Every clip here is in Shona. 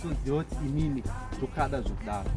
unoziva kuti inini ndokada zvekudaro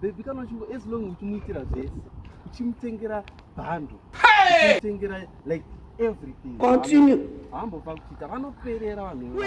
bebi kana uchingo as long uchimuitira zvese uchimutengera bhando uchimutengera like everything continue hambofa kuchiita vanoperera vanhuiwe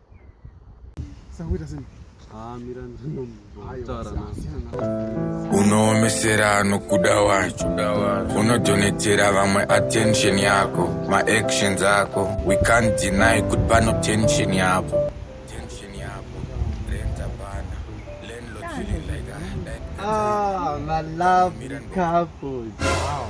unoomesera anokuda wacho unodonetera vamwe attention yako maactions ako we can't deny kuti pano tension yapo Ah, my love couples. Wow.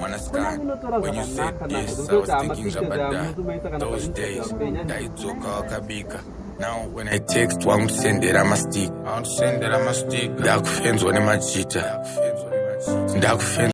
mwanasikana when you said yes i was thinking zvabadha those days ndaidzoka wakabika now when i text wangusendera mastik ndakufenzwa nemajita ndakufenzwa